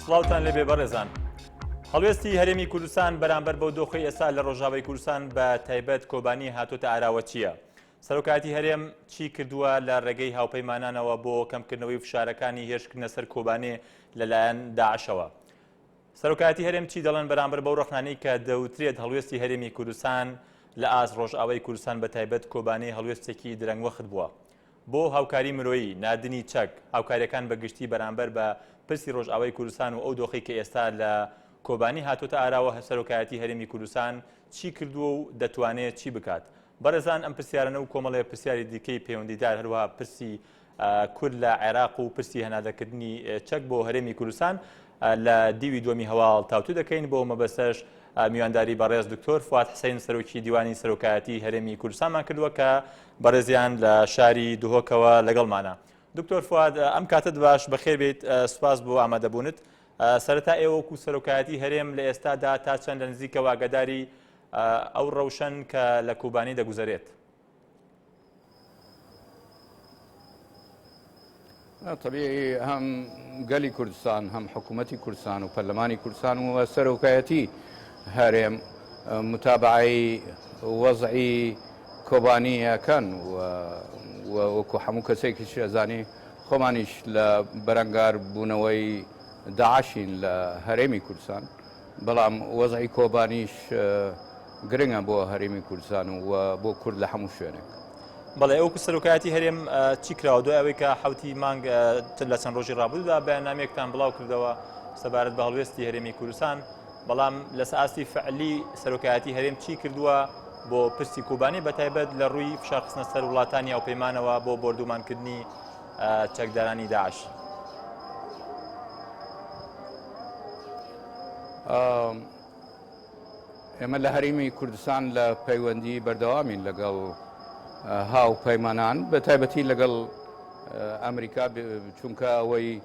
سڵاوتان لەبێ بەڕێزان هەڵوێستی هەرێمی کوردستان بەرامبەر بەو دۆخی ئێستا لە ڕۆژاوی کوردستان بە تایبەت کۆبانی هاتوتە ئاراوەچیە سەرۆکایەتی هەرێم چی کردووە لە رێگەی هاوپەیمانانەوە بۆ کەمکردنەوەی فشارەکانی هێرشکردنە سەر کۆبانێ لەلایەن داعشەوە؟ سەرۆکایەتی هەرێم چی دەڵێن بەرامبەر بەو رەخنانەی کە دەوترێت هەڵوێستی هەرێمی کوردستان لە ئاست رۆژئاوای کوردستان بەتایبەت کۆبانێ هەڵوێستێکی درەنگوەخت بووە بۆ هاوکاری مرۆیی، ناردنی چەک، هاوکارییەکان بە گشتی بەرامبەر بە پرسی رۆژئاوای کوردستان و ئەو دۆخەی کە ئێستا لە کۆبانێ هاتووەتە ئاراوە سەرۆکایەتی هەرێمی کوردستان چی کردووە و دەتوانێت چی بکات؟ بەڕێزان ئەم پرسیارەنە و کۆمەڵێ پرسیاری دیکەی پەیوەندیدار هەروەها پرسی کورد لە عێراق و پرسی هەنادەکردنی چەک بۆ هەرێمی کوردستان لە دیوی دووەمی هەواڵ تاوتو دەکەین بۆ مەبەستەش میوانداری بەڕێز دکتۆر فواد حسین سەرۆکی دیوانی سەرۆکایەتی هەرێمی کوردستانمان کردووە کە بەڕێزیان لە شاری دهۆکەوە لەگەڵمانە دکتۆر فواد ئەم کاتت باش بەخێر بێت سوپاس بۆ ئامادەبوونت سەرەتا ئێوەکو سەرۆکایەتی هەرێم لە ئێستادا تا چەند لە نزیکەوە ئاگاداری ئەو ڕەوشەن کە لە کوبانی دەگوزەرێت. تەبی هەم گەلی کوردستان هەم حکوومەتتی کوردستان و پەرلەمانی کوردستان و سەرۆکایەتی هەرێم متابعی وەزعی کۆبانیەکەن وەکو هەموو کەسێکی شێزانی خۆمانیش لە بەرەنگار بوونەوەی داعشین لە هەرێمی کوردستان. بەڵام وەزعی کۆبانیش گرنگە بۆ هەرێمی کوردستان و بۆ کورد لە هەموو شوێنێک. بەڵێ ئەوکو سەرۆکایەتی هەرێم چی کراوە دوای ئەوەی کە حوتی مانگ لە چەند ڕۆژی ڕابوودا بەیاننامێکتان بڵاو کردەوە سەبارەت بە هەڵوێستی هەرێمی کوردستان بەڵام لە ساستی فعلی سەرۆکایەتی هەرێم چی کردووە بۆ پرسی کوبانی بە تایبەت لە ڕووی فشارخستنە سەر وڵاتانی ئەو پەیمانەوە بۆ بردومانکردنی چەکدارانی داعش. ئێمە لە هەرمی کوردستان لە پەیوەندی بەردەوامین لەگەڵ هاو پەیمانان بە تایبەتی لەگەڵ ئەمریکا چونکە ئەوەی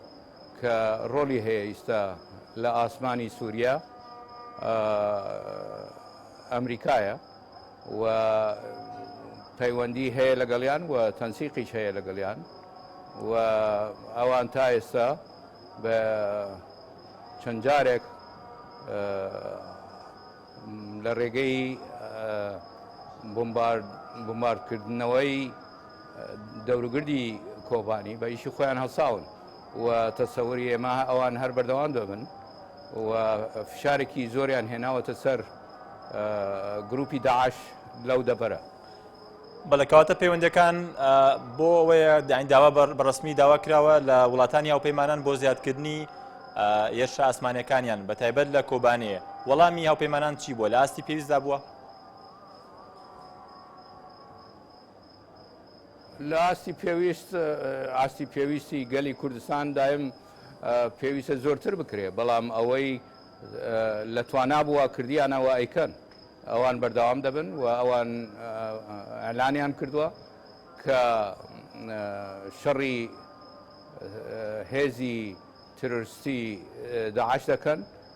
کە ڕۆلی هەیە ئیستا لە ئاسمانی سووریا ئەمریکایە و پەیوەندی هەیە لەگەڵیان و تەنسیقیش هەیە لەگەڵیان و ئەوان تا ئێستا بە چەند جارێک لە ڕێگەی بمباردکردنەوەی دەوروگردی کۆبانی بە ئیشی خۆیان هەڵساون و تەسەوری ئێمە ئەوان هەر بەردەوام دەبن. و فشارێکی زۆریان هێناوەتە سەر گروپی داعش لەو دەبەرە بەلەکەواتە پەیوەندەکان بۆ ئەوەیە داین داوا بەڕسمی داوا کراوە لە وڵاتانی هاوپەیمانان بۆ زیادکردنی یش ئاسمانەکانیان بە تایبەت لە کۆبانەیە وەڵامی هاوپەیمانان چی بووە لە ئاستی پێویستدا بووە لە ئاستی پێویست ئاستی پێویستی گەلی کوردستان دایم پێویستە زۆرتر بکرێ بەڵام ئەوەی لە توانا بووە کردیانەوە ئەیکەن ئەوان بەردەوام دەبن و ئەوان ئەلانیان کردووە کە شەڕی هێزی ترۆرستی داعش دەکەن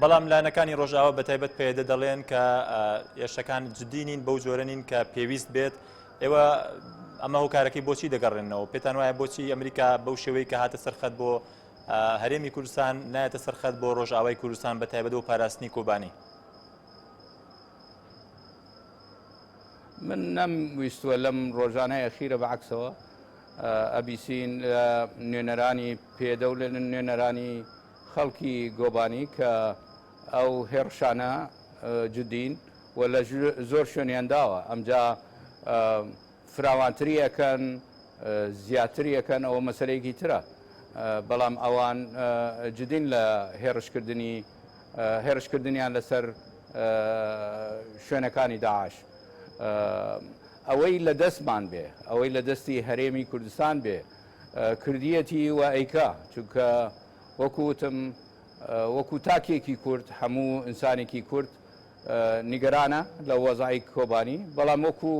بەڵام لایەنەکانی ڕۆژئاوا بەتایبەت پەیەدە دەڵێن کە ئێشەکان جددی نین بەو جۆرە نین کە پێویست بێت ئێوە ئەمە هۆکارەکەی بۆچی دەگەڕێنەوە پێتان وایە بۆچی ئەمریکا بەو شێوەی کە هاتە سەرخەت بۆ هەرێمی کوردستان نایەتە سەرخەت بۆ ڕۆژئاوای کوردستان بە تایبەت و پاراستنی کۆبانی من نەم ویستوە لەم ڕۆژانەیە خیرە بە عکسەوە ئەبیسین نوێنەرانی پێدە و لە نوێنەرانی خەڵکی گۆبانی کە ئەو هێڕشانە جدین و لە زۆر شوێنیان داوە ئەمجا فراوانتری ئەکەن زیاتری ئەکەن ئەوە مەسەرەیەکی ترە بەڵام ئەوان جدین لە هێڕشکردنی هێرشکردنیان لەسەر شوێنەکانی داعش ئەوەی لە دەستمان بێ ئەوەی لە دەستی هەرێمی کوردستان بێ کردیەتی و ئەیکا چونکە وەکو وتم وەکو تاکێکی کورد هەموو ئینسانێکی کورد نیگەرانە لە وەزای کۆبانی بەڵام وەکو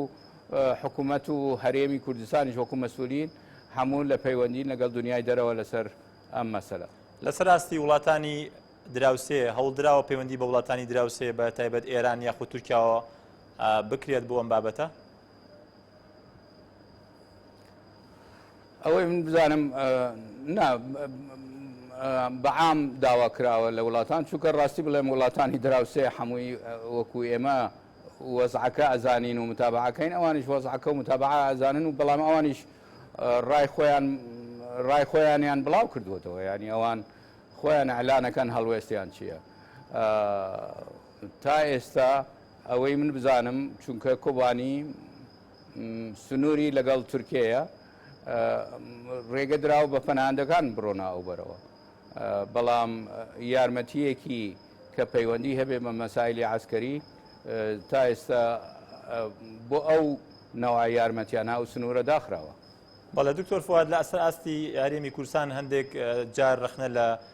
حکوومەت و هەرێمی کوردستانیش وەکو مەسولین هەموو لە پەیوەندی لەگەڵ دنیای دەرەوە لەسەر ئەم مەسەلە لەسەر ئاستی وڵاتانی دراوسێ هەوڵدراوە پەیوەندی بە وڵاتانی دراوسێ بە تایبەت ئێران یاخود تورکیاوە بکرێت بۆ ئەم بابەتە ئەوەی من بزانم نا بەعام داوا کراوە لە وڵاتان چونکە ڕاستی بڵێم وڵاتانی دراوسێ حەمووی وەکو ئێمە وەزعەکە ئەزانین و متابعەکەین ئەوانیش وەزعەکە و متابع ئەزانن و بەڵام ئەوانیش ڕای خۆیان ڕای خۆیانیان بڵاو کردوێتەوە ینی ئەوان خۆیان ئەلانەکەن هەڵوێستیان چییە تا ئێستا ئەوەی من بزانم چونکە کۆبانی سنووری لەگەڵ تورکێیە ڕێگە درا و بە پەناندەکان بڕۆنا ئەو بەرەوە بەڵام یارمەتیەکی کە پەیوەندی هەبێ بە مەسایلی عسکەری تا ئێستا بۆ ئەو نەوە یارمەتیانە ئەو سنوورە داخراوە بەڵێ دکتۆر فواد لە ئەسەر ئاستی هەرێمی کورسان هەندێک جار رەخنە لە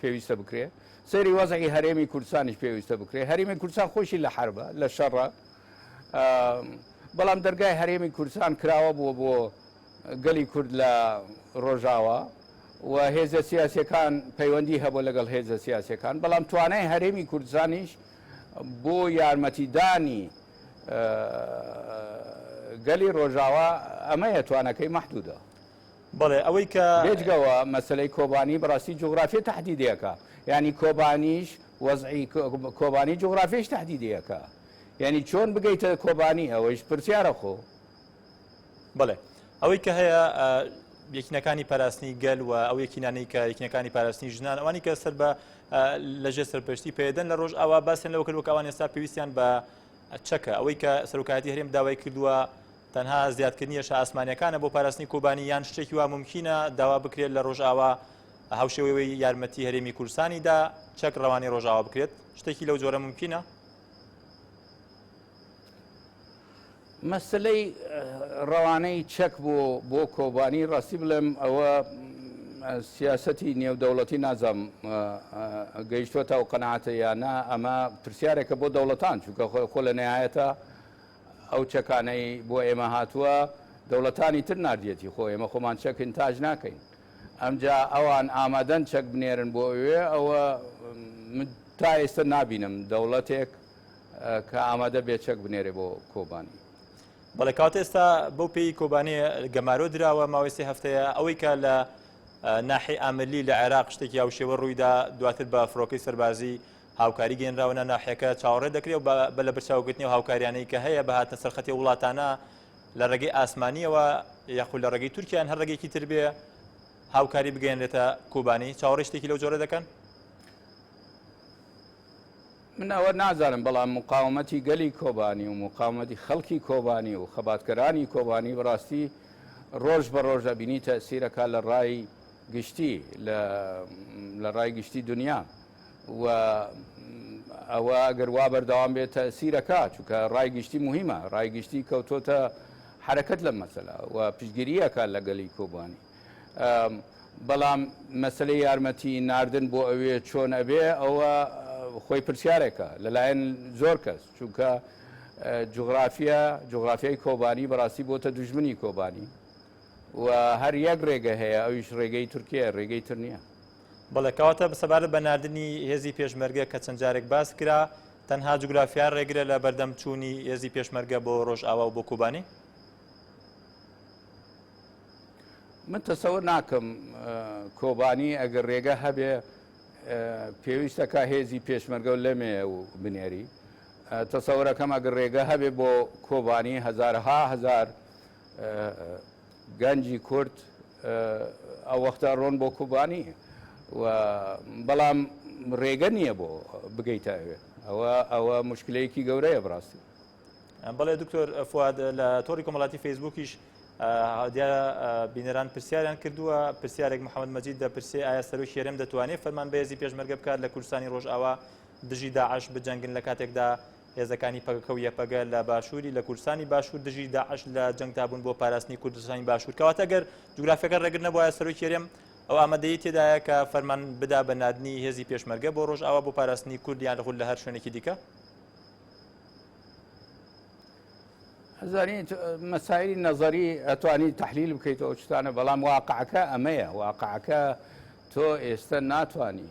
پێویستە بکرێ سەیری وەزعی هەرێمی کوردستانیش پێویستە بکرێ هەرێمی کوردستان خۆشی لە حربە لە شەڕە بەڵام دەرگای هەرێمی کوردستان کراوە بووە بۆ گەلی کورد لە ڕۆژاوە و هێزە سیاسەکان پەیوەندی هەبوو لەگەڵ هێزە سیاسەکان بەڵام توانای هەرێمی کوردزانیش بۆ یارمەتیدانی گەلی ڕۆژاوا ئەمەیە توانەکەی مەحدودا بەڵێ ئەوەی کە. بێجگەوە مەسەلەی کۆبانی بەڕاستی جوغرافیە تەحدیدێکە یانی کۆبانیش وەزعی کۆبانی جوغرافیش تەحدیدێکە یانی چۆن بگەیتە کۆبانی ئەوەیش پرسیارە خۆ بەڵێ ئەوەی کە هەیە یەکینەکانی پاراستنی گەل و ئەو یەکینانەی کە یەکینەکانی پاراستنی ژنان ئەوانی کە سەر بە لەژێ سەرپشتی پێدەن لە ڕۆژ ئاوا باسن لەوە کردوە کەوان ئێستا پێویستیان بە چەکە ئەوەی کە سەرکاتی هەرێم داوای کردووە تەنها زیادکردنی هێرشە ئاسمانییەکانە بۆ پاراستنی کۆبانی یان شتێکی وا مومکینە داوا بکرێت لە ڕۆژئاوا هاوشێوەی یارمەتی هەرێمی کوردستانیدا چەک ڕەوانی ڕۆژاوا بکرێت شتێکی لەو جۆرە ممکنە مەسلەی ڕەوانەی چەک بۆ بۆ کۆبانی ڕاستی بڵێم ئەوە سیاستی نێودەوڵەتی نازەم گەیشتوە تا و قەنعاتە یانە ئەمە پرسیارێکە بۆ دەوڵەتان چونکە خۆ لە نهایەتە ئەو چەکانەی بۆ ئێمە هاتووە دەوڵەتانی تر ناردیەتی خۆ ئێمە خۆمان چەک ئینتاج ناکەین ئەمجا ئەوان ئامادەن چەک بنێرن بۆ ئەوێ ئەوە من تا ئێستا نابینم دەوڵەتێک کە ئامادە بێ چەک بنێرێ بۆ کۆبانی. بەڵێ کاتە ئێستا بەو پێی کۆبانێ گەمارۆ دراوە ماوەی سێ هەفتەیە ئەوەی کە لە ناحی ئاملی لە عێراق شتێکی هاوشێوە ڕوویدا دواتر بە فڕۆکەی سەربازی هاوکاری گەینراوە ناو ناحیەکە چاوەڕێ دەکرێ و بە بە لە برچاو گرتنی ئەو هاوکاریانەی کە هەیە بە هاتنە سەر خەتی وڵاتانە لە ڕێگەی ئاسمانیەوە یاخود لە ڕێگەی تورکیا یان هەر ڕێگەیەکی تر بێ هاوکاری بگەیەنرێتە کوبانی چاوەڕێی شتێکی لەو جۆرە دەکەن؟ من ئەوە نازانم بەڵام مقاومەتی گەلی کۆبانی و مقاومەتی خەڵکی کۆبانی و خەباتکەرانی کۆبانی بەڕاستی ڕۆژ بە ڕۆژ ئەبینی تەسیرەکە لە ڕای گشتی لە ڕای گشتی دنیا و ئەوە گەر وا بەردەوام بێت تەئسیرەکا چونکە ڕای گشتی موهیمە ڕای گشتی کەوتۆتە حرەکەت لەم مەسەلا و پشتگیریەکە لەگەلی کۆبانی بەڵام مەسلەی یارمەتی ناردن بۆ ئەوێ چۆن ئەبێ ئەوە خۆی پرسیارێکە لەلایەن زۆر کەس چونکە جغرافیا جغرافیای کۆبانی بەڕاستی بۆتە دژمنی کۆبانی و هەر یەک ڕێگە هەیە ئەویش ڕێگەی تورکیا ڕێگەی تر نییە بەڵێ کەواتە سەبارەت بە ناردنی هێزی پێشمەرگە کە چەند جارێک باس کرا تەنها جوگرافیا ڕێگرە لە بەردەم چوونی هێزی پێشمەرگە بۆ ڕۆژئاوا و بۆ کوبانی؟ من تەسەور ناکەم کۆبانی ئەگەر ڕێگە هەبێ پێویستەکە هێزی پێشمەرگە و لەمێ و بنێری تەسەورەکەم ئەگەر ڕێگە هەبێ بۆ کۆبانی هزارها هزار گەنجی کورد ئەوەختە ڕۆن بۆ کوبانی و بەڵام ڕێگە نییە بۆ بگەیتە ئەوێ ئەوە ئەوە مشکلەیەکی گەورەیە بڕاستی بەڵێ دکتۆر فواد لە تۆری کۆمەڵاتی فەیسبوکیش دیارە بینەران پرسیاریان کردووە پرسیارێک محەممەد مەجید دەپرسێ ئایا سەرۆکی هەرێم دەتوانێت فەرمان بەێزی پێشمەرگە بکات لە کوردستانی ڕۆژئاوا دژی داعش بجەنگن لە کاتێکدا هێزەکانی پەکەکە و یەپەگە لە باشووری لە کوردستانی باشوور دژی داعش لە جەنگدا بوون بۆ پاراستنی کوردستانی باشوور کەواتە گەر جوگرافیەکە ڕێگر نەبوایە سەرۆکی هەرێم ئەو ئامادەی تێدایە کە فەرمان بدا بە نادنی هێزی پێشمەرگە بۆ ڕۆژ ئاوا بۆ پاراستنی کوردیان خود لە هەر شوێنێکی دیکە زانیت مەسایری نەزەری ئەتوانی تحلیل بکەیتەوە شتانە بەڵام واقعەکە ئەمەیە واقعەکە تۆ ئێستا ناتانی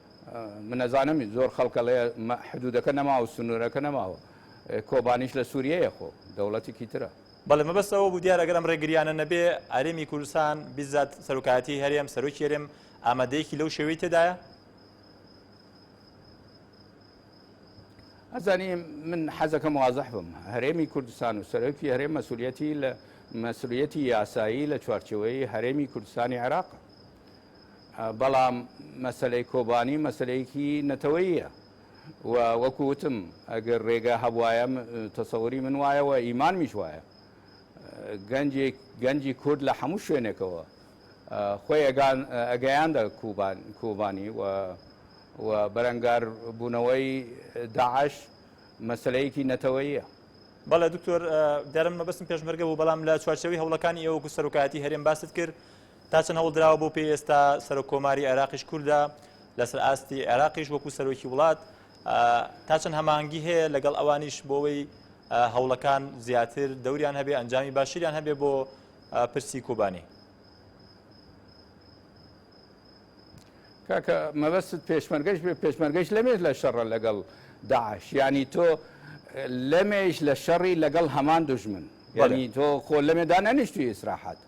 من ئەزانم زۆر خەڵک ئەڵێ حدوودەکە نەماوە و سنوورەکە نەماوە، کۆبانیش لە سووریەیە خۆ، دەوڵەتێکی ترە. بەڵێ، مەبەست ئەوە بوو دیارە گەر ئەم رێگرییانە نەبێ، هەرێمی کوردستان بیزات سەرۆکایەتیی هەرێم، سەرۆکی هەرێم ئامادەیەکی لەو شێوەی تێدایە؟ ئەزانی من حەزەکەم وازح بم، هەرێمی کوردستان و سەرۆکی هەرێم مەسوولیەتی لە مەسوولیەتی یاسایی لە چوارچێوەی هەرێمی کوردستانی عێراقە. بەڵام مەسەلەی کۆبانی مەسەلەیەکی نەتەوەییە و وەکو وتم ئەگەر ڕێگا هەبوایە تەسەوری من وایە و ئیمانمیش وایە گەنجێک گەنجی کورد لە هەموو شوێنێکەوە خۆی ئەگەیاندە کوبانی و و بەرەنگار بوونەوەی داعش مەسلەیەکی نەتەوەیە بەڵێ دکتۆر دەرم مەبستم پێشمەرگە بوو بەڵام لە چوارچەوی هەوڵەکانی ئێوەکو سەرۆکایەتی هەرێم باست کرد تا چەند هەوڵدراوە بۆ پێی ئێستا سەرۆک کۆماری عێراقیش کوردە لەسەر ئاستی عێراقیش وەکو سەرۆکی وڵات تا چەند هەمانگی هەیە لەگەڵ ئەوانیش بۆەوەی هەوڵەکان زیاتر دەوریان هەبێ ئەنجامی باشیریان هەبێ بۆ پرسی کۆبانی کاکە مەبەست پێشمەرگەش بێ پێشمەرگەش لەمێش لە شەڕە لەگەڵ داعش ینی تۆ لەمێش لە شەڕی لەگەڵ هەمان دژمن ینی تۆ خۆ لەمێدا نەنیشتوی ئیسراحات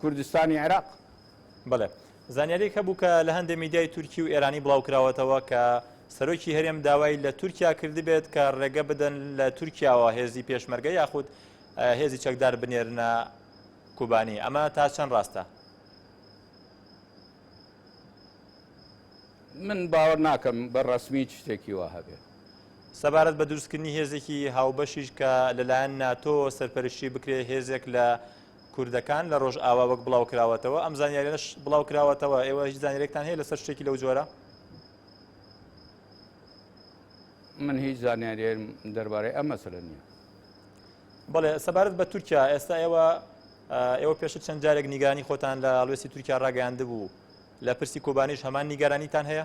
کوردستانی عێراق. بەڵێ زانیاریەک هەبوو کە لە هەندێ میدیای تورکی و ئێرانی بڵاوکراوەتەوە کە سەرۆکی هەرێم داوای لە تورکیا کردبێت کە ڕێگە بدەن لە تورکیاوە هێزی پێشمەرگە یاخود هێزی چەکدار بنێرنە کوبانی ئەمە تا چەند ڕاستە من باوەڕ ناکەم بە ڕسمی شتێکی وا هەبێ سەبارەت بە دروستکردنی هێزێکی هاوبەشیش کە لەلایەن ناتۆ سەرپەرشتی بکرێ هێزێک لە کوردەکان لە ڕۆژئاوا وەک بڵاوکراوەتەوە ئەم زانیاریانەش بڵاوکراوەتەوە ئێوە هیچ زانیارێکتان هەیە لەسەر شتێکی لەو جۆرە من هیچ زانیاریم دەربارەی ئەم مەسەلە نییە بڵێ سەبارەت بە تورکیا ئێستا ئێوە ئێوە پێش چەند جارێک نیگانی خۆتان لە ئالوێسی تورکیا ڕاگەیاند بوو لە پرسی کۆبانیش هەمان نیگەرانیتان هەیە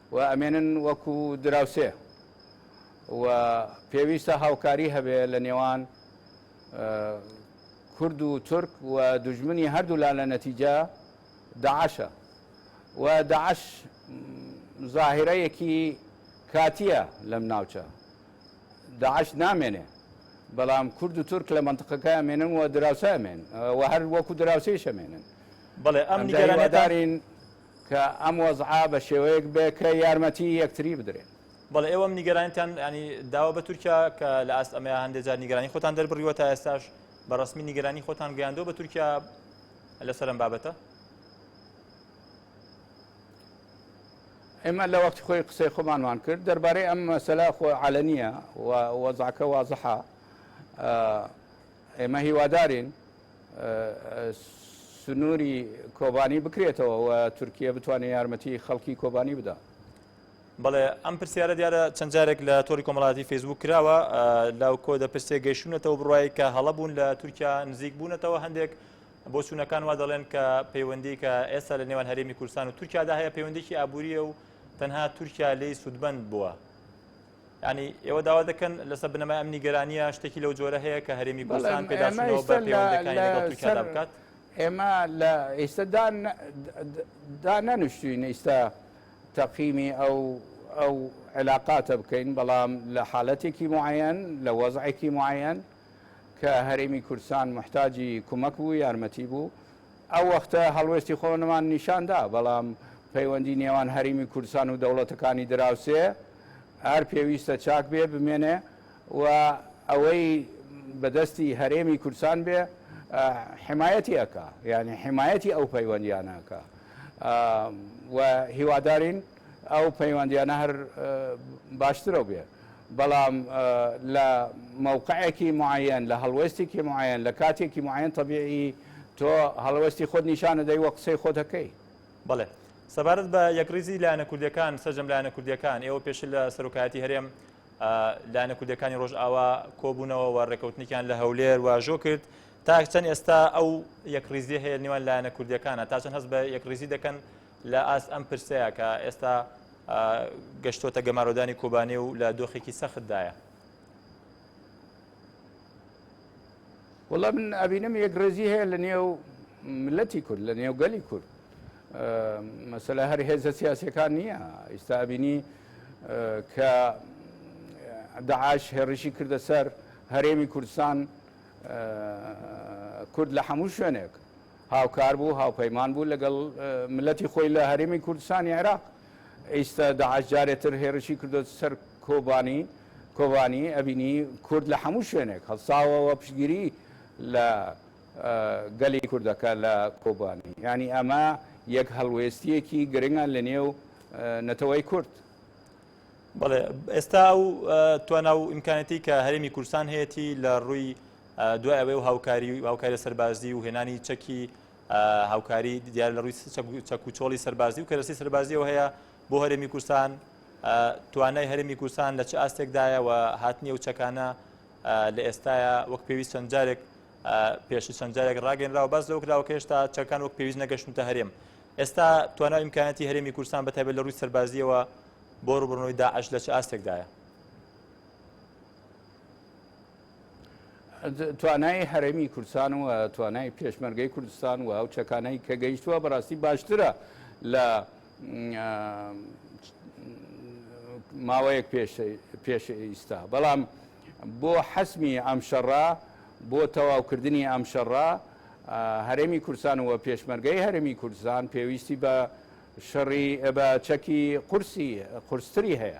و ئەمێنن وەکو دراوسێ و پێویستە هاوکاری هەبێ لە نێوان کورد و تورک و دوژمنی هەردوولا لە نەتیجە داعشە و داعش ظاهرەیەکی کاتیە لەم ناوچە داعش نامێنێ بەڵام کورد و تورک لە منطقەکە ئەمێنن و دراوسە ئەمێن و هەر وەکو دراوسێش ئەمێنن بەڵێ ئەم نیگەرانێتان دارین کە ئەم وەزعە بە شێوەیەک بێ کە یارمەتی یەکتری بدرێن. بەڵێ ئێوەم نیگەرانیتان یانی داوە بە تورکیا کە لە ئاست ئەمەیا هەندێ جار نیگەرانی خۆتان دەربڕیوە تا ئێستاش بە ڕسمی نیگەرانی خۆتان گەیاندەوە بە تورکیا لەسەر ئەم بابەتە ئێمە لە وەختی خۆی قسەی خۆمانمان کرد دەربارەی ئەم مەسەلا خۆ عالە نییە و وەزعکە وازحە ئێمە هیوادارین سنوری کۆبانی بکرێتەوە و تورکیە بتوانێت یارمەتی خەڵکی کۆبانی بدا. بەڵێ ئەم پرسیارە دیارە چەند جارێک لە تۆری کۆمەڵاتی فەیسبوک کراوە لە کۆ دە پرسێ گەیشتونەتەوە بڕایی کە هەڵە بوون لە تورکیا نزیک بوونەتەوە هەندێک بۆچوونەکان وا دەڵێن کە پەیوەندی کە ئێستا لە نێوان هەرێمی کوردستان و تورکیادا هەیە پەیوەندێکی ئابووریە و تەنها تورکیا لی سوودمەند بووە یعنی ئێوە داوا دەکەن لەسەر بنەمای ئەم نیگەرانییە شتێکی لەو جۆرە هەیە کە هەرێمی بەڵێن بکات ئێمە لە ئێستا دا نەنوشتوین ئیستا تەقیمی ئەو ئەو علااقاتە بکەین بەڵام لە حالەتێکی معەن لە وەزعێکی معەن کە هەرێمی کوردستان محتاجی کومەک بوو یارمەتی بوو ئەو وەختە هەڵوێستی خۆنمان نیشان دا، بەڵام پەیوەندی نێوان هەریمی کوردستان و دەوڵەتەکانی دراوسێ هەر پێویستە چاک بێ، بمێنێ و ئەوەی بە دەستی هەرێمی کوردستان بێ حمایەتی ئەکا، یانی حمایەتی ئەو پەیوەندیانە ئەکا و هیوادارین. ئەو پەیوەندیانە هەر باشترەو بێ بەڵام لە مەوقعێکی معەیەن لە هەڵوێستێکی معەیەن لە کاتێکی معەیەن تەبیعی تۆ هەڵوێستی خۆت نیشان دەدەی وە قسەی خۆت دەکەی بەڵێ سەبارەت بە یەکڕیزی لایەنە کوردیەکان سەرجەم لایەنە کوردیەکان ئێوە پێش لە سەرۆکایەتی هەرێم لایەنە کوردەکانی ڕۆژئاوا کۆبوونەوە و ڕێکەوتنیان لە هەولێر واژۆ کرد تاکچەند ئێستا ئەو یەکڕیزی هەیە نێوان لایەنە کوردیەکانە تاچەند هەست بە یەکڕیزی دەکەن لە ئاست ئەم پرسەیە کە ئێستا گەشتۆتە گەمارۆدانی کۆبانێ و لە دۆخێکی سەختدایە. وڵە من ئەبینم یەک ڕێزی هەیە لە نێو ملەتی کورد لە نێو گەلی کورد مەسەلا هەر هێزە سیاسەکان نییە ئیستا ئەبینی کە داعاش هێڕشی کردە سەر هەرێمی کوردستان کورد لە هەموو شوێنێک هاوکار بوو هاوپەیمان بوو لەگەڵ مللەتی خۆی لە هەرێمی کوردستانی عێراق ئیستە داعش جارێ تر هێرشی کردۆتە سەر کۆبانی کۆبانی ئەبینی کورد لە حەموو شوێنێک هەڵساوەوە پشگیری لە گەلی کوردەکە لە کۆبانی ینی ئەمە یەک هەڵوێستیەکی گرنگە لە نێو نەتەوەی کورد بەڵێ ئێستا و توانا و ئیمکانەتی کە هەرێمی کورسان هەیەی لە ڕووی دوای ئەوەی و هاوکاری و هاوکاریە سەربازی و هێنانی چەکی هاوکاری دیار لە ڕووی چەک و چۆڵی سەربازی و کەرەسی سەربازیەوە هەیە بۆ هەرێمی کوردستان توانای هەرێمی کوردستان لە چ ئاستێکدایە و هاتنی و چەکانە لە ئێستاە وەک پێویست چەند جارێک پێش چەند جارێک ڕاگەنراوە باز لەو کراوە کێشتا چەکان وەک پێویست نەگەشتونتە هەرێم ئێستا توانای امکانەتی هەرێمی کوردستان بەتابێت لە ڕووی سەربازیەوە بۆ ڕوبڕنەوەی داعش لە چ ئاستێکدایە توانای هەرێمی کوردستان و توانای پێشمەرگەی کوردستان و ئەو چەکانەی کە گەیشتووە بەڕاستی باشترە لە ماوەیەک پێش ئیستا بەڵام بۆ حەسمی ئەم شەڕا بۆ تەواوکردنی ئەم شەڕا هەرێمی کورسان و پێشمەرگەی هەرێمی کوردستان پێویستی بە شەڕی بە چەکی قورسی قورستری هەیە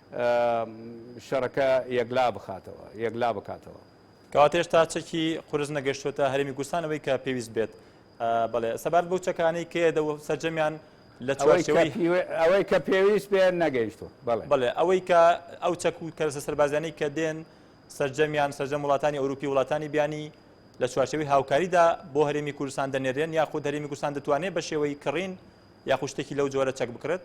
شەڕەکە یەکلا بخاتەوە یەکلا بکاتەوە. کەواتە هێشتا چەکی قورس نەگەشتووەتە هەرێمی کوردستان ئەوەی کە پێویست بێت بڵێ سەبارەت بەو چەکانەی کێ دە سەرجەمیان لە ئەوەی کە پێویست بێ نەگەیشتوە بڵێ ئەوەی کە ئەو چەک و کەرسە سەربازیانەی کە دێن سەرجەمیان سەرجەم وڵاتانی ئەوروپی وڵاتانی بیانی لە چوارچەوەی هاوکاریدا بۆ هەرێمی کوردستان دەنێرێن یا خود هەرێمی کوردستان دەتوانێت بە شێوەی کڕین یا خوشتێکی لەو جۆرە چەک بکرێت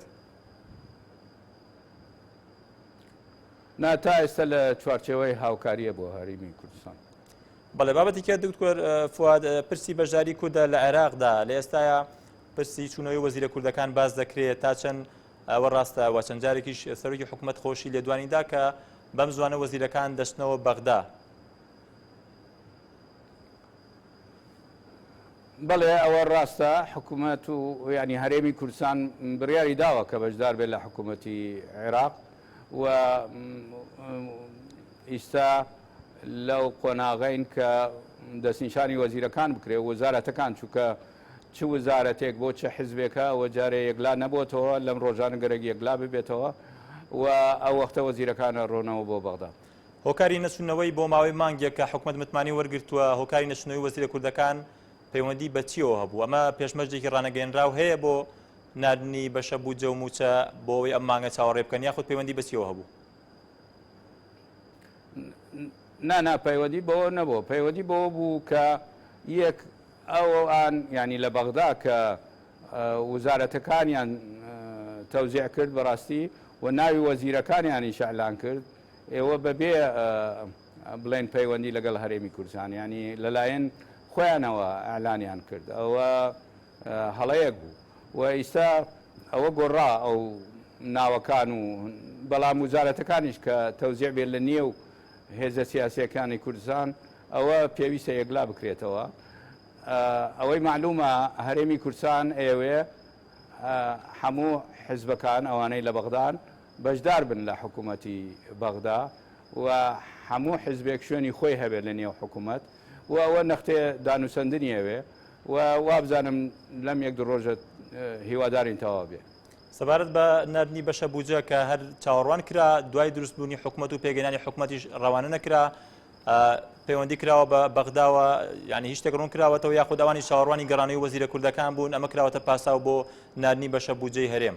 نا تا ئێستا لە چوارچێوەی هاوکاریە بۆ هەرێمی کوردستان. بەڵێ بابەتی کە دکتۆر فواد پرسی بەشداری کوردە لە عێراقدا لە ئێستاە پرسی چونەوەی وەزیرە کوردەکان باز دەکرێت تا چەند ئەوە ڕاستە وە چەند جارێکیش سەرۆکی حکوومەت خۆشی لێدوانیدا کە بەم زوانە وەزیرەکان دەستنەوە بەغدا بەڵێ ئەوە ڕاستە حکوومەت و ینی هەرێمی کوردستان بڕیاری داوە کە بەشدار بێت لە حکوومەتی عێراق و ئیستا لەو قۆناغین کە دەستنیشانی وەزیرەکان بکرێ وەزارەتەکان چووکە چ وزارەتێک بۆ چه حزبێکە ئەوە جارێ یەکلا نەبووتەوە لەم ڕۆژانە گەرەک یەکلا ببێتەوە و ئەو وەختە وەزیرەکانە ڕۆنەوە بۆ بەغدا هۆکاری نەچوونەوەی بۆ ماوەی مانگێکە حکومەت متمانەی وەرگرتووە، هۆکاری نەچوونەوەی وەزیرە کوردەکان پەیوەندی بە چییەوە هەبوو؟ ئەمە پێشمەرجێکی ڕانەگەیەنراو هەیە بۆ ناردنی بەشە بودجە و مووچە بۆ ئەوەی ئەم مانگە چاوەڕێ بکەن یاخود پەیوەندی بە چییەوە هەبوو؟ نا نا پەیوەندی بەوە نەبوو، پەیوەندی بەوە بوو کە یەک ئەوان یانی لە بەغدا کە وزارەتەکانیان تەوزیع کرد بەڕاستی و ناوی وەزیرەکانیانیش ئیعلان کرد، ئێوە بە بێ بڵێن پەیوەندی لەگەڵ هەرێمی کوردستان ینی لەلایەن خۆیانەوە ئەلانیان کرد ئەوە هەڵەیەک بوو و ئیستا ئەوە گۆڕا ئەو ناوەکان و بەڵام وزارەتەکانیش کە تەوزیع بێت لە نییە و هێزە سیاسەکانی کوردستان ئەوە پێویستە یەکلا بکرێتەوە ئەوەی معلومە هەرێمی کورسان ئێوێ هەموو حزبەکان ئەوانەی لە بەغدان بەشدار بن لە حکومەتی بەغدا و هەموو حزبێک شوێنی خۆی هەبێت لە نێو حکومەت و ئەوە نەختێ دانوسەندنی ئەوێ و وابزانم لەم یەک دوو ڕۆژە هیوادارین تەواو بێ. سەبارەت بە ناردنی بەشە بودجە کە هەر چاوەڕوان کرا دوای دروستبوونی حکومەت و پێگەنانی حکومەتیش ڕەوانە نەکرا پەیوەندی کراوە بە بەغداوە ینی هیچ تێکڕون کراوەتەوە یاخود ئەوانی چاوەڕوانی گەڕانی وەزیرە کوردەکان بوون ئەمە کراوەتە پاساو بۆ ناردنی بەشە بودجەی هەرێم.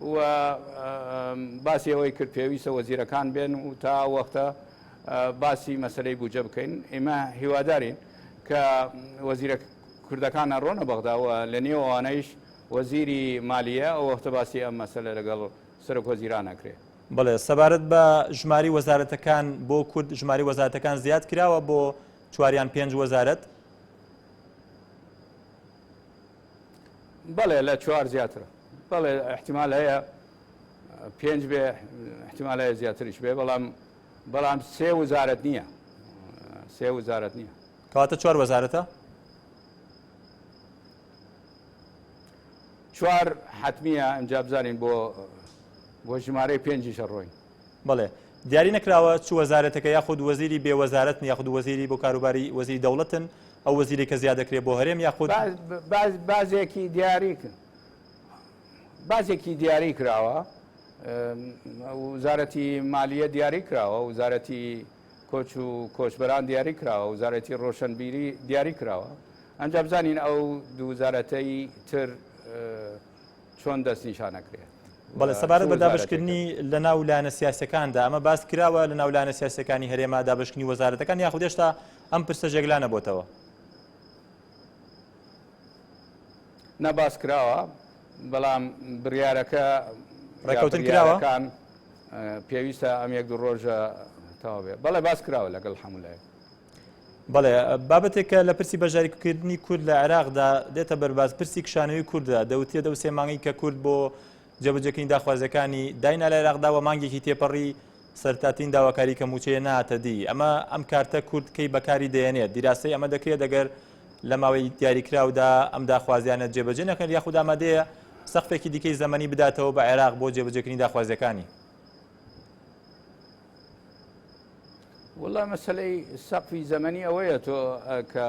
و باسی ئەوەی کرد پێویستە وەزیرەکان بێن و تا ئەو وەختە باسی مەسەلەی بودجە بکەین ئێمە هیوادارین کە وەزیرە کوردەکان ئەڕۆنە بەغدا و لە نێو ئەوانەیش وەزیری مالیە ئەو وەختە باسی ئەم مەسەلە لەگەڵ سەرۆک وەزیران ئەکرێ. بەڵێ، سەبارەت بە ژماری وەزارەتەکان بۆ کورد، ژماری وەزارەتەکان زیاد کراوە بۆ چوار یان پێنج وەزارەت، بەڵێ لە چوار زیاترە بەڵێ احتیمال هەیە پێنج بێ احتیمال هەیە زیاتریش بێ بەڵام بەڵام سێ وزارەت نییە سێ وزارەت نییە کەواتە چوار وەزارەتە چوار حتممیە ئەمجا بزانین بۆ بۆ ژمارەی پێنجیشە ڕۆین بەڵێ دیاری نەکراوە چ وەزارەتەکە یاخود وەزیری بێ وەزارەتن یاخود وەزیری بۆ کاروباری وەزیری دەوڵەتن ئەو وەزیری کە زیاد دەکرێت بۆ هەرێم یاخود بازێکی دیاری کرد بازێکی دیاری کراوە وزارەتی مالیە دیاری کراوە وزارەتی کۆچ و کۆچبەران دیاری کراوە وزارەتی ڕۆشنبیری دیاری کراوە ئەنجا بزانین ئەو دووزارەتەی تر چۆن دەست نیشان ئەکرێ؟ بەڵێ سەبارەت بە دابەشکردنی لە ناو لایەنە سیاسەکاندا ئەمە باس کراوە لە ناو لایەنە سیاسەکانی هەرێما دابشکننی وەزارەتەکان یاخود دێشتا ئەم پرسە ژێگلا نەبتەوە نەباس کراوە بەڵام بڕارەکە ڕێکوتن کراوەکان پێویستە ئەم یەک دوو ڕۆژە تاوێ بەڵێ باس کراوە لەگەڵ هەمولای بەڵێ بابەتێک کە لە پرسی بەشداریکردنی کورد لە عێراقدا دێتە بەرباز پرسی کشانەوەی کوردە دەوتێ دە سێ مانگی کە کورد بۆ جێبەجێکردنی داخوازەکانی داینا لە عێراقدا و مانگێکی تێپەڕی سەرتاتین داواکاری کە موچەیە ناتە دی ئەمە ئەم کارتە کورد کەی بەکاری دێنێت دیراسی ئەمە دەکرێت دەگەر لە ماوەی دیاریکراودا ئەم داخوازیانە جێبەجێ نەکەن یاخود ئامادەیە سەقفێکی دیکەی زەمەنی بداتەوە بە عێراق بۆ جێبەجێکردنی داخوازیەکانی وڵا مەسلەی سەقفی زەمەنی ئەوەیە تۆ کە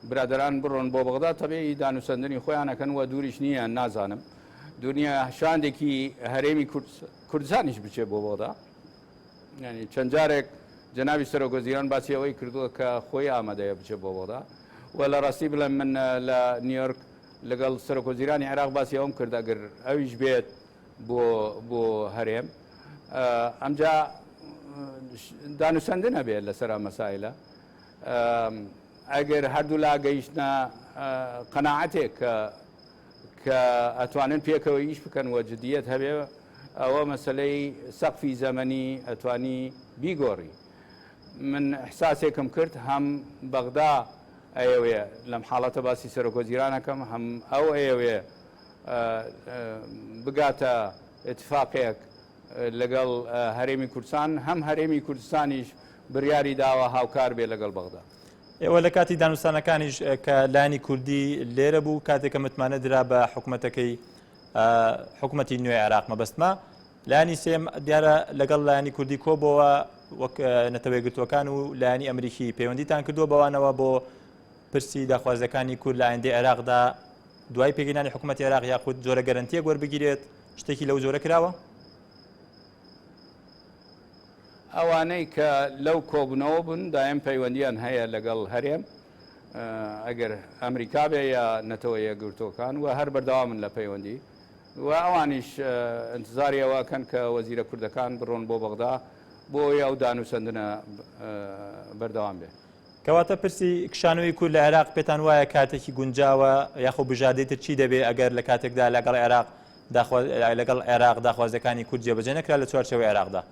برادران بڕۆن بۆ بەغدا تەبێی دانوسەندنی خۆیانەکەن و دووریش نییە نازانم دنیا شاندێکی هەرێمی کوردستانیش بچێ بۆ بۆدا ینی چەند جارێک جەناوی سەرۆگۆزیران باسی ئەوەی کردووە کە خۆی ئامادەیە بچێ بۆ بۆدا و لە ڕاستی بڵێن من لە نیویۆرک لەگەڵ سەرۆکۆزیرانی عێراق باسی ئەوم کرد ئەگەر ئەویش بێت بۆ بۆ هەرێم ئەمجا دانوسەندن هەبێت لەسەر مەسایلە ئەگەر هەردوو لا گەیشتە قەنەعاتێک کە کە ئەتوانن پێکەوە ئیش بکەن وە جدیت هەبێ ئەوە مەسلەی سەقفی زەمەنی ئەتوانی بیگۆڕی من حساسێکم کرد هەم بەغدا ئەیەوێ لەم حاڵەتە باسی سەرۆکۆزیرانەکەم هەم ئەو ئەیەوێ بگاتە ئیتفاقێک لەگەڵ هەرێمی کوردستان، هەم هەرێمی کوردستانیش بریاری داوە هاوکار بێ لەگەڵ بەغدا. ئێوە لە کاتی دانوستانەکانیش کە لایەنی کوردی لێرە بوو، کاتێک کە متمانە درا بە حکومەتەکەی حکومەتی نوێی عێراق مەبەستمە، لایەنی سێم دیارە لەگەڵ لایەنی کوردی کۆبەوە وەک نەتەوەیەگرتووەکان و لایەنی ئەمریکی پەیوەندیتان کردووە بەوانەوە بۆ پرسی داخوازیەکانی کورد لە ئایندەی عێراقدا دوای پێگەیەنانی حکوومەتی عێراق یاخود جۆرە گەرنتیەک وەربگیرێت شتێکی لەو جۆرە کراوە؟ ئەوانەی کە لەو کۆبوونەوە بوون دایم پەیوەندیان هەیە لەگەڵ هەرێم ئەگەر ئەمریکا بێ یا نەتەوە یەکگرتووەکان و هەر بەردەوامن لە پەیوەندی و ئەوانیش انتظاری ئەوەکەن کە وەزیرە کوردەکان بڕۆن بۆ بەغدا بۆ ئەو دانوسەندنە بەردەوام بێ کەواتە پرسی کشانەوەی کورد لە عێراق پێتان وایە کاتێکی گونجاوە یاخۆ بژاردەی تر چی دەبێ ئەگەر لە کاتێکدا لەگەڵ عێراق داخوا لەگەڵ عێراق داخوازیەکانی کورد جێبەجێ نەکرا لە چوارچەوەی عێراقدا؟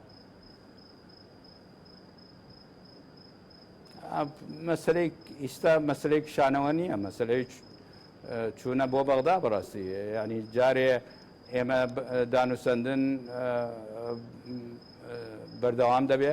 مەسلەی ئیستا مەسلەی کشانەوە نییە مەسلەی چوونە بۆ بەغدا بەڕاستی ینی جارێ ئێمە دانوسەندن بەردەوام دەبێ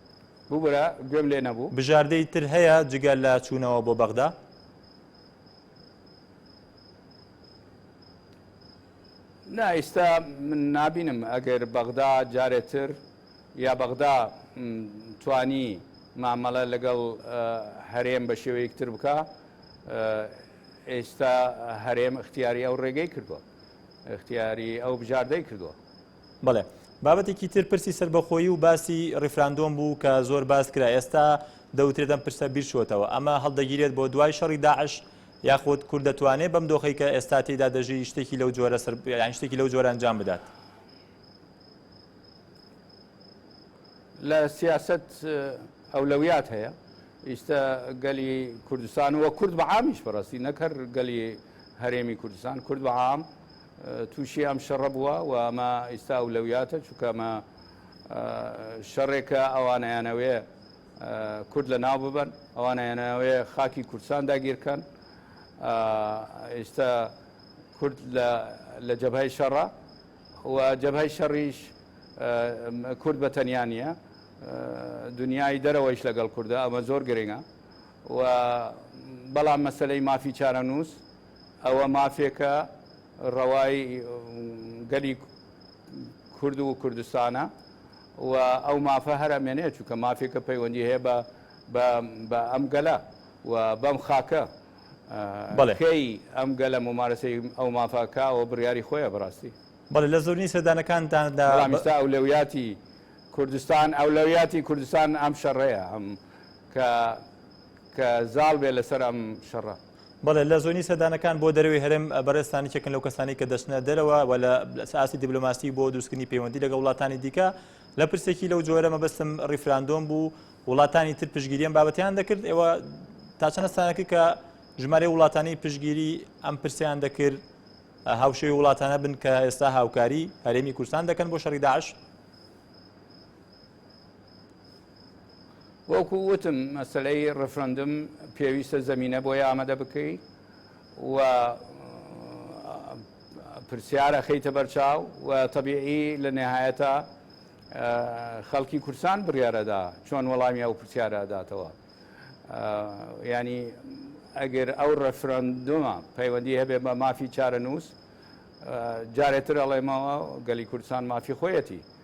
ببورە گوێم لێ نەبوو. بژاردەی تر هەیە جگە لە چوونەوە بۆ بەغدا؟ نا ئیستا من نابینم ئەگەر بەغدا جارێتر یا بەغدا توانی مامەڵە لەگەڵ هەرێم بە شێوەیەکتر بکە ئێستا هەرێم اختیاری ئەو ڕێگەی کردووە اختیاری ئەو بژاردەی کردووە بەڵێ بابەتێکی تر پرسی سەربەخۆیی و باسی ڕیفراندۆم بوو کە زۆر باس کرا ئێستا دەوترێت ئەم پرسە بیرچۆتەوە ئەمە هەڵدەگیرێت بۆ دوای شەڕی داعش یاخود کورد دەتوانێت بەم دۆخی کە ئێستا تێدا دەژی شتێکی لەو جۆرە سەر یان شتێکی لەو جۆرە ئەنجام بدات لە سیاست ئەولەویات هەیە ئیستا گەلی کوردستان وە کورد بە عامیش بەڕاستی نەکەر گەلی هەرێمی کوردستان کورد بە عام تووشی ئەم شەڕە بووە و ئەمە ئیستا ئەولەویاتە چونکە ئەمە شەڕێکە ئەوان ئەیانەوێ کورد لە ناو ببەن ئەوان ئەیانەوێ خاکی کوردستان داگیرکەن ئیستا کورد لە جەبهی شەڕە و جەبهی شەڕیش کورد بە تەنیا نییە دنیای دەرەوەیش لەگەڵ کووردە ئەمە زۆر گرنگە و بەڵام مەسلەی مافی چارەنووس ئەوە مافێکە ڕەوای گەلی کورد و کوردستانە و ئەو مافە هەر ئەمێنێت، چونکە مافێکە پەیوەندی هەیە بە ئەم گەلە و بەم خاکە. کەی ئەم گەلە مومارەسەی ئەو مافە کا، ئەوە بڕیاری خۆیە بەڕاستی. بەڵێ لە زۆرینەی سەردانەکانتان دا. بەڵام ئیستا ئەولەویاتی کوردستان، ئەولەویاتی کوردستان ئەم شەڕەیە کە زاڵ بێت لەسەر ئەم شەڕە. بەڵێ لە زۆنی سەردانەکان بۆ دەرەوەی هەرێم بەڕێزتان یەکێکن لەو کەسانەی کە دەچنە دەرەوە و لە ئاستی دیبلۆماسی بۆ دروستکردنی پەیوەندی لەگە وڵاتانی دیکە لە پرسێکی لەو جۆرە مەبەستم ڕیفراندۆم بوو وڵاتانی تر پشگیریان بابەتیان دەکرد ئێوە تا چەند ئەستانەکە کە ژمارە وڵاتانی پشگیری ئەم پرسیان دەکرد هاوشێوی وڵاتانە بن کە ئێستا هاوکاری هەرێمی کوردستان دەکەن بۆ شەڕی داعش وەکو وتم مەسلەی ڕفرەندم پێویستە زەمینە بۆی ئامادە بکەی و پرسیارە خەیتە بەرچاو و تەبیعی لە نهایەتە خەڵکی کورسان بڕیارەدا چۆن وەڵامی ئەو پرسیارەداتەوە ینی ئەگەر ئەو ڕفرەندومە پەیوەندی هەبێ بە مافی چارە نووس جارێتر ئەڵێمەوە گەلی کوردستان مافی خۆیەتی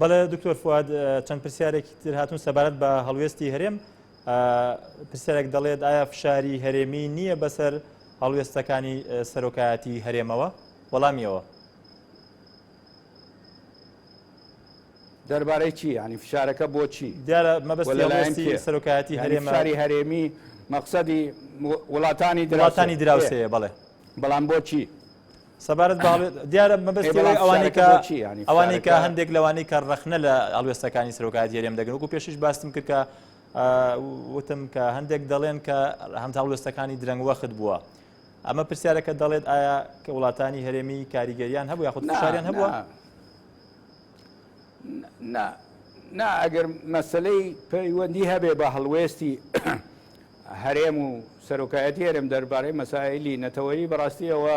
بەڵێ دکتۆر فواد چەند پرسیارێکی تر هاتون سەبارەت بە هەڵوێستی هەرێم پرسیارێک دەڵێت ئایا فشاری هەرێمی نییە بەسەر هەڵوێستەکانی سەرۆکایەتی هەرێمەوە وەڵامیەوە دەربارەی چی ینی فشارەکە بۆچی دیارە مەبەستی سەرۆکایەتی هەرێماری هەرێمی مەقصدی وڵاتانی دراسانی دراوسەیە بەڵێ بەڵام بۆچی سەبارەت دیارە مەبەستەوەی ئەوانەی کە ئەوانەی کە هەندێک لەوانەی کە ڕخنە لە ئەڵوێستەکانی سرۆکات یێرێم دەگەن وکو پێشش باستم کرد کە وتم کە هەندێک دەڵێن کە هەمتا هەڵوێستەکانی درەنگ وەخت بووە ئەمە پرسیارەکە دەڵێت ئایا کە وڵاتانی هەرێمی کاریگەریان هەبوو یاخود شاریان هەبووە نا نا ئەگەر مەسلەی پەیوەندی هەبێ بە هەڵوێستی هەرێم و سەرۆکایەتی هەرێم دەربارەی مەسائلی نەتەوەیی بەڕاستی ئەوە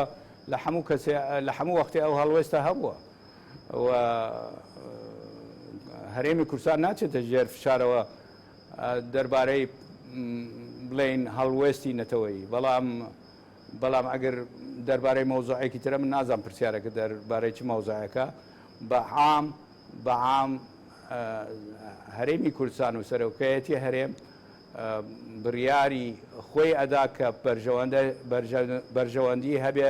لە هەموو کەسێ لە هەموو وەختێ ئەو هەڵوێستە هەبووە و هەرێمی کوردستان ناچێتە ژێر فشارەوە دەربارەی بڵێین هەڵوێستی نەتەوەیی بەڵام بەڵام ئەگەر دەربارەی مەوزوعێکی ترە من نازانم پرسیارەکە دەربارەی چ مەوزوعێکە بە عام بە عام هەرێمی کوردستان و سەرۆکایەتی هەرێم بڕیاری خۆی ئەدا کە بەرژەوەندە بەرژەوەندی هەبێ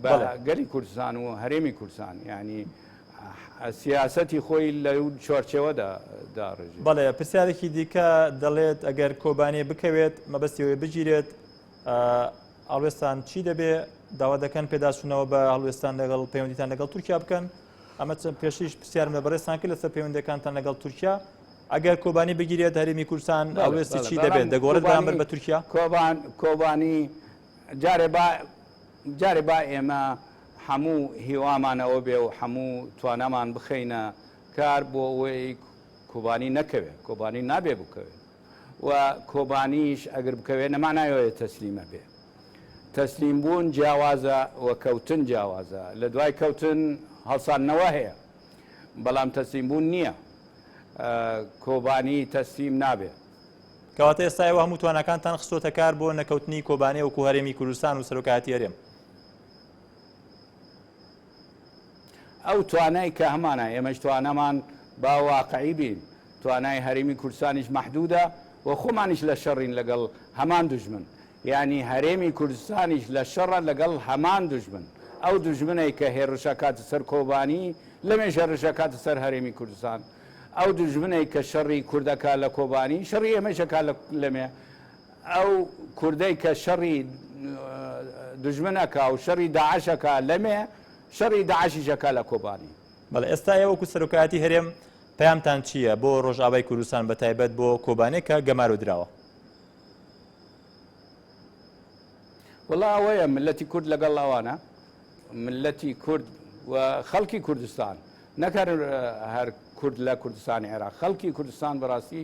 بە گەلی کوردستان و هەرێمی کوردستان ینی سیاستی خۆی لە چۆرچەوەدا داڕژ بەڵێ پرسیارێکی دیکە دەڵێت ئەگەر کۆبانێ بکەوێت مەبەستیەوەی بگیرێت هەڵوێستان چی دەبێ داوا دەکەن پێداچوونەوە بە هەڵوێستان لەگەڵ پەیوەندیتان لەگەڵ تورکیا بکەن ئەمە چەند پێشیش پرسیارم لە بەڕێستان کرد لەسەر پەیوەندەکانتان لەگەڵ تورکیا ئەگەر کۆبانی بگیرێت هەرمی کوردستان ئەوێستی چی دەبێت دەگۆڕێت بەرامبەر بە تورکیا کۆبان کۆبانی جارێ با جارێ با ئێمە هەموو هیوامانەوە بێ و هەموو توانامان بخەینە کار بۆ ئەوەی کۆبانی نەکەوێت کۆبانی نابێ بکەوێت و کۆبانیش ئەگر بکەوێ نەما نایۆێ تەسلیمە بێ تەسلیم بوون جیاوازە و کەوتن جیاوازە لە دوای کەوتن هەڵساندنەوە هەیە بەڵام تەسلیم بوون نییە کۆبانی تەسلیم نابێ کەواتە ئێستا ئێوە هەموو توانەکانتان خستۆتە کار بۆ نەکەوتنی کۆبانێ وکو هەرێمی کوردستان و سەرۆکایەتی هەرێم ئەو توانای کە هەمانە، ئێمەش توانامان با واقعی بین، توانای هەرێمی کوردستانیش مەحدودە و خۆمانیش لە شەڕین لەگەڵ هەمان دوژمن، یانی هەرێمی کوردستانیش لە شەڕە لەگەڵ هەمان دوژمن، ئەو دوژمنەی کە هێڕش ئەکاتە سەر کۆبانی، لەمێژ هێڕش ئەکاتە سەر هەرێمی کوردستان، ئەو دوژمنەی کە شەڕی کورد ئەکا لە کۆبانی، شەڕی ئێمەیش ئەکا لە لەمێ. ئەو کوردەی کە شەڕی دوژمن ئەکا و شەڕی داعش ئەکا لەمێ، شەڕی داعشیش ئەکا لە کۆبانی. بەڵێ ئێستا ئێوە وەکو سەرۆکایەتی هەرێم پەیامتان چییە بۆ ڕۆژئاوای کوردستان بە تایبەت بۆ کۆبانێ کە گەمارۆ دراوە؟ وەڵا ئەوەیە ملەتی کورد لەگەڵ ئەوانە ملەتی کورد و خەڵکی کوردستان نەکەن هەر کورد لە کوردستانی عێراق خەڵکی کوردستان بەڕاستی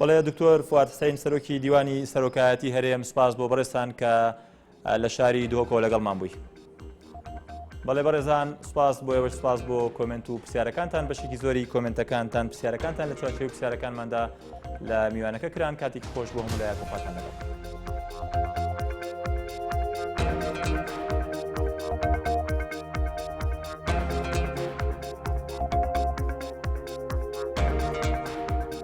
بەڵێ دکتۆر فواد حسین سەرۆکی دیوانی سەرۆکایەتی هەرێم سپاس بۆ بەڕێستان کە لە شاری دهۆکەوە لەگەڵمان بووی. بەڵێ بەڕێزان سپاس بۆ ئێوە سپاس بۆ کۆمنت و پرسیارەکانتان بەشێکی زۆری کۆمنتەکانتان پرسیارەکانتان لە چاچوی پرسیارەکانماندا لە میوانەکە کران کاتێکی خۆش بۆ هەموو لایەک وخاتان لەگەڵ.